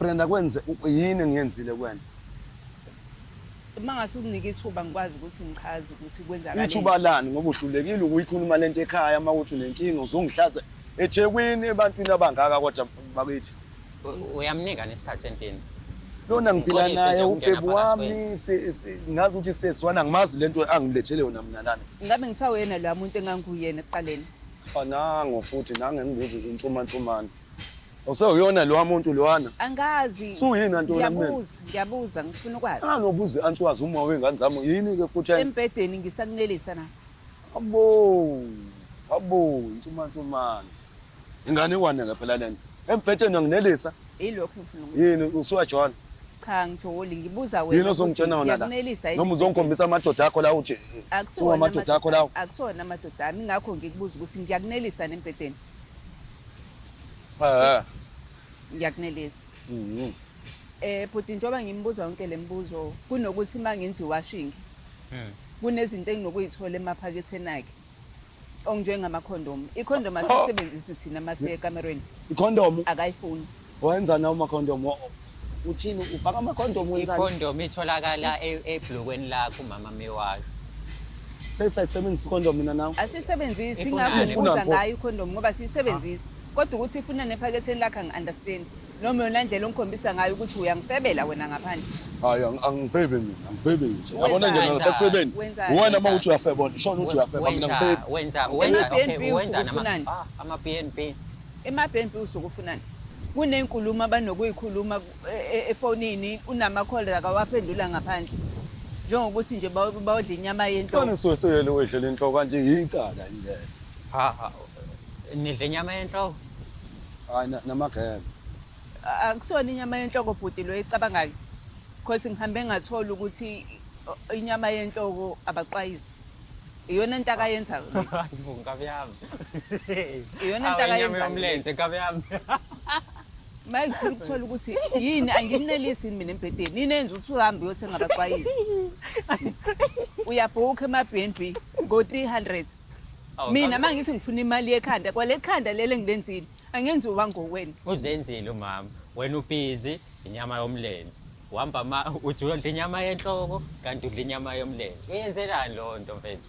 Brenda kwenze yini engiyenzile kuwena? Uma ngase unginike ithuba ngikwazi ukuthi ngichaze ukuthi kwenzakala. Ithuba lani ngoba uhlulekile ukuyikhuluma lento ekhaya uma uthi unenkinga uzongihlaza eThekwini ebantwini abangaka kodwa bakithi. Uyamnika nesikhathi endlini. Lona ngiphila naye ubhebu wami ngazi ukuthi seswana ngimazi lento angilethele yona mina lana. Ngabe ngisawena la muntu enganguyena ekuqaleni. Anango futhi nange ngibuza insumansumana. Osewuyona lowa muntu lowana. Angazi. Suyini anti wena mina? Ngiyabuza, ngiyabuza ngifuna ukwazi. Ah nobuze anti wazi uma wengane zami yini ke futhi yini? Embedeni ngisakunelisa na. Abo. Abo insuma nsumana. Ingane kwana ke phela lento. Embedeni anginelisa. Yilokho ngifuna ukuthi. Yini usuwa John? Cha ngijoli ngibuza wena. Yini ozongitshena wona la? Noma uzongikhombisa amadoda akho la uje. Akusona amadoda akho lawo. Akusona amadoda ami ngakho ngikubuza ukuthi ngiyakunelisa nembedeni. Eh. Ngiyakunelisa. Mhm. Eh bhuti njoba ngimbuza yonke lembuzo kunokuthi mangenzi washing. Mhm. Kunezinto enginokuyithola emaphaketheni akhe. Ongjengama condom. I condom asisebenzisi thina masekamerweni. Icondom. Akayifuni. Wenzani nawo amakhondom? Uthini ufaka amakhondom wenzani? Ikhondom itholakala e- ebhlukweni lakho umama mewasho. Sesayisebenzisa ikhondom mina nawe. Asiyisebenzisi Ifunani? ingakho ngibuza Ifunani pho? ngayo ikhondomu ngoba siyisebenzisi. Kodwa ukuthi ifuna nephaketheni lakhe angi-understand. Noma yona ndlela ongikhombisa ngayo ukuthi uyangifebela wena ngaphandle. Hayi ang- angifebi mina, angifebi nje. Wenzani? Yabona nje mina ngisekucebeni. Wenzani? Uwena Wenzani? mawuthi uyafeba, ushona uthi uyafeba mina Wenza, ngifebi. wenza, Ama wenza, BNB okay, usuke wenza nama- ufunani? ah, ama-BNB. Emabhempi usukufunani? Kunenkulumo abanokuyikhuluma e, e, efonini unama-call akawaphendula ngaphandle njengokuthi nje bawodla inyama yenhloko. Kona soseyele wedlela inhloko kanje ngiyicala indlela. Ha ha. Nidla inyama yenhloko? Hayi namagebe. Akusona inyama yenhloko bhuti lo ecabangayo. Because ngihambe ngathola ukuthi inyama yenhloko abaqwayizi. iyona into akayenzayo le. Hayi bo nkabi yami. Iyona into Awu, inyama akayenzayo. yomlenze nkabi yami. Maye ngifuna ukuthola ukuthi yini anginelisi yini mina embhedeni. Yini enza ukuthi uhambe uyothenga abacwayizi. Uyabhukha ema-BNB ngo-300. Awu, Mina nkabi- uma ngithi ngifuna imali yekhanda kwale khanda lele ngilenzile angenziwa ngowena. Uzenzile umama. Wena ubizi inyama yomlenze. uhamba ma ujula udla inyama yenhloko kanti udla inyama yomlenze uyenzelani lowo nto mfethu